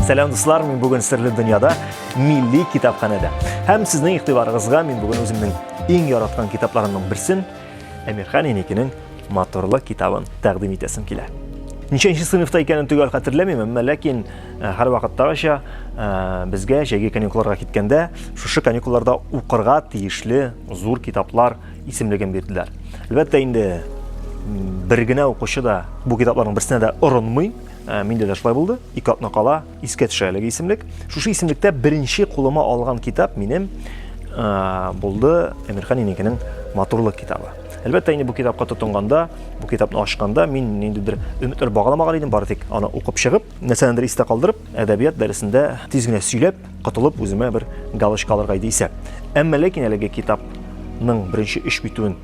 Сәлам дуслар, мин бүген серле дөньяда милли китапханәдә. Һәм сезнең игътибарыгызга мин бүген үземнең иң яраткан китапларымның берсен Әмирхан Еникинең Моторлы китабын тәкъдим итәсем килә. Ничәнче сыйныфта икәнен төгәл хәтерләмим, әмма ләкин э, һәр вакыттагыча э, безгә җәйге каникулларга киткәндә шушы каникулларда укырга тиешле зур китаплар исемлеген бирделәр. Әлбәттә инде бер генә укучы да бу китапларның берсенә дә орынмый. Ә, миндә дә шулай булды. Ике атна кала искә төшә әлеге исемлек. Шушы исемлектә беренче кулыма алган китап минем ә, булды Әмирхан Инекенең матурлык китабы. Әлбәттә инде бу китапка тотынганда, бу китапны ачканда мин ниндидер өметләр багламаган идем, бары тик аны укып чыгып, нәрсәдәндер истә калдырып, әдәбият дәресендә тиз генә сөйләп, котылып, үземә бер галочка алырга иде исәп. Әмма ләкин әлеге китапның беренче өч битүен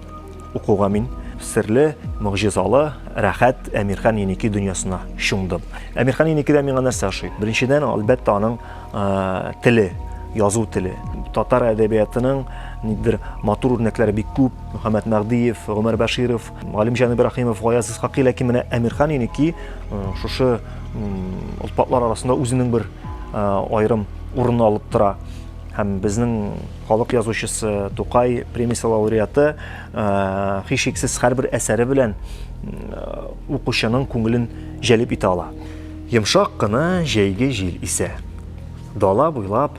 укуга мин серле, могҗизалы, рәхәт Әмирхан Еники дөньясына чумдым. Әмирхан Еникидә миңа нәрсә ошый? Беренчедән, әлбәттә, аның э, теле, язу теле. Татар әдәбиятының нидер матур үрнәкләре бик күп. Мөхәммәд Мәгъдиев, Гомәр Бәширов, Галимҗан Ибрахимов, Гаяз Исхакый, ләкин менә Әмирхан Еники э, шушы олпатлар арасында үзенең бер э, аерым урынны алып тора. Һәм безнең халык язучысы Тукай премиясе лауреаты э, һичшиксез һәрбер әсәре белән укучының күңелен җәлеп итә ала. Йомшак кына җәйге җил исә. Дала буйлап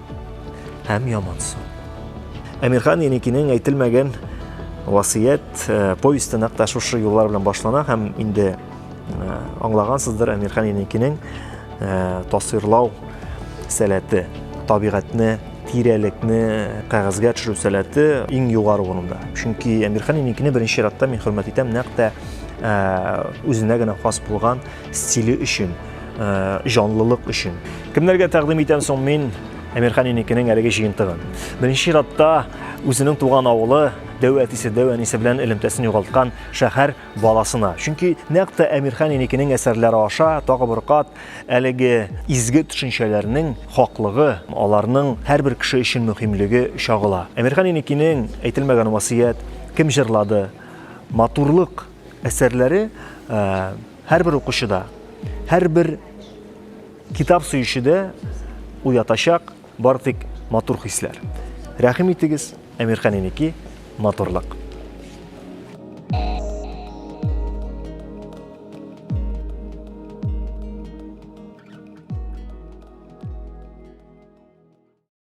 һәм ямансу. Әмирхан Еникинең әйтелмәгән васыят э, повесте нәкъ тә шушы юллар белән башлана һәм инде э, аңлагансыздыр Әмирхан Еникинең э, тасвирлау сәләте, табигатьне, тирәлекне кәгазьгә төшерү сәләте иң югары урында. Чөнки Әмирхан Еникине беренче чиратта мин хөрмәт итәм нәкъ тә үзенә генә хас булган стиле өчен. Э, җанлылык өчен. Кемнәргә тәкъдим итәм соң мин Әмирхан инекенең әлеге җыентыгын? Беренче чиратта үзенең туган авылы, дәү әтисе, дәү әнисе белән элемтәсен югалткан шәһәр баласына. Чөнки нәкъ тә Әмирхан инекенең әсәрләре аша тагы бер кат әлеге изге төшенчәләрнең хаклыгы, аларның һәрбер кеше өчен мөһимлеге чагыла. Әмирхан инекенең әйтелмәгән васыят, кем җырлады, матурлык әсәрләре э, Һәрбер укучыда, һәрбер китап сөючедә уятачак бар тик матур хисләр. Рәхим итегез, Әмирхан инеки, матурлык.